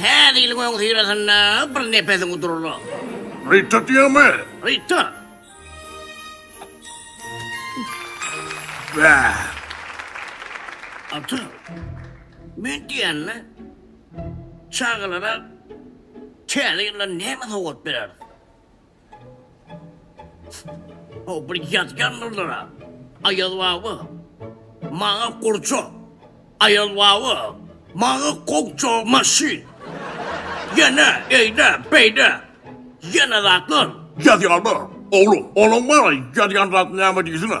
Täze ýylyň öňüsyrasynda bir nepesiňi durla. Rita diýýämi? Rita. Bä. Ata. Men diýende çagalara täze ýylda näme sowgat berer? O bir ýazgandyrlara. Aýaz baba. Maňa gurça. Aýaz baba. Maňa gokça maşyn. Ýene eýde, beýde. Ýene zatlar. Ýazýarlar. Oglum, onuň maňa ýazýan zady näme diýsene?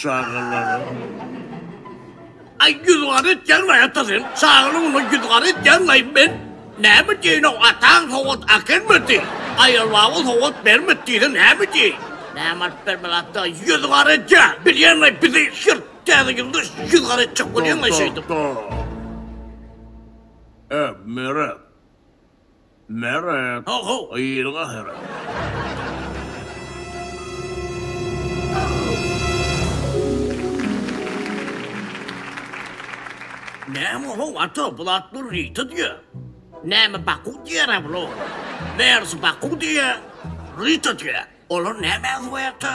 Çagalara. Ay ýüz gara etýän gaý ata sen. Çaganyň uly ýüz gara etýän gaý men. Näme diýen o ataň sowat akelmedi. Aýal baba sowat bermedi diýse näme diýi. Näme alyp bermeli ata ýüz gara etýän. Bilýän gaý bizi şir täze ýylda ýüz gara etjek bolýan gaý şeýdip. Tok tok tok. Ä meret. Meret, ho-how, ýyl gahyry! Näme ho-how, ata, bul at Lurita diýýä. Näme Baku diýýär-ä bul, oglan? Megersi Baku diýýä, Rita diýýä. Olar nämäni goýarka?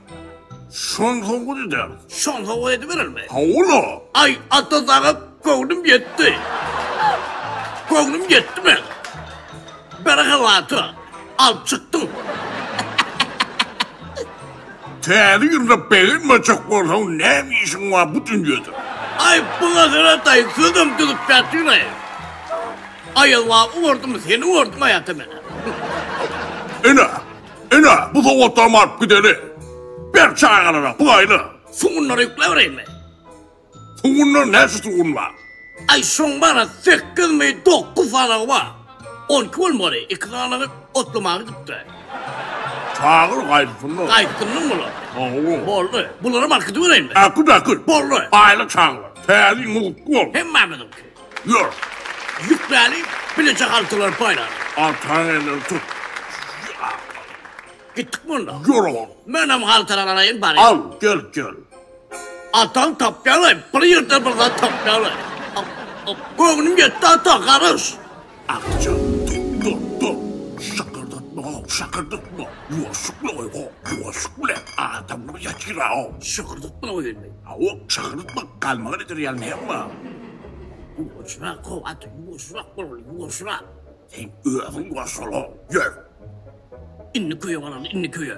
Şon howuz eder. Şon howuz ediberermi? Howula. Ay ata saga göwnüm yetti. göwnüm yetti men. Bir hawata alıp çıktım. Täze ýylda begenmejek bolsaň näme işiň bar bu dünýede? Ay bu nazara tay sözüm düzüp ýatyr ay. Ayazwa uwardym seni uwardym ayata meni. Ene, Ine, bu sowgatlarymy alyp gideli. Ber çagalara, pygaýla. Sugunlary ýükläbereyinmi? Sugunlar näçe sugun bar? Aý, şoň bar-a sekizmi, dokuz sanagy bar. On iki bolmaly, iki sanagy otlamaga gidipdir. Çagyr gaýdysynlar. Gaýtsynlar bular. Hawa. Boldy. Bularam alyp gidibereýinmi? Äkit, äkit. Boldy. Aýla çagalar, täze ýyl mugtly bolsun. Hemmämiziňki. Ýör, ýükläni, bileje haltalar paýlar. Arkaň elleri tut. Gitdikmi onda? Ýör, ogul. Menem haltalary alaýyn, barýan. Al, gel, gel. Ataň tapýarlaý, bir ýerden bir zat tapýarlaý. Göwnüm ýetdi, ata, garyş. Agtyja, Dur, dur, dur! Şakyrdatma-ow, şakyrdatma! Ýuwaşjykly-oý-ho, ýuwaşjyk bilen adamlar ýatyr-a-ow! Şakyrdatma welin, hawa, şakyrdatma, galmagal eder ýaly näme bar? Ýuwaşrak-ow, ata, ýuwaşrak bol, ýuwaşrak! Sen özüň ýuwaş bol-ow, ýör! Indi köýe galaly, indi köýe!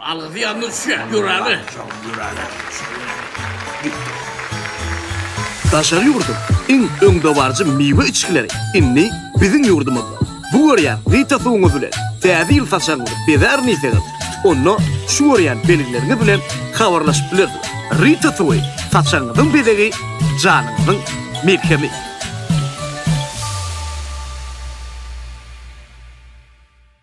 Algysy ýadyna düşýär, ýürägi. Şoň ýürägi. Daşary ýurduň iň öňdebaryjy miwe içgileri indi biziň ýurdumyzda. Bu görýän Vita suwuňyz bilen Täze ýyl saçagyňyzy bezärin diýseňiz, onda şu görýän belgileriňiz bilen habarlaşyp bilersiňiz. Rita suwy, saçagyňyzyň bezegi, janyňyzyň melhemi.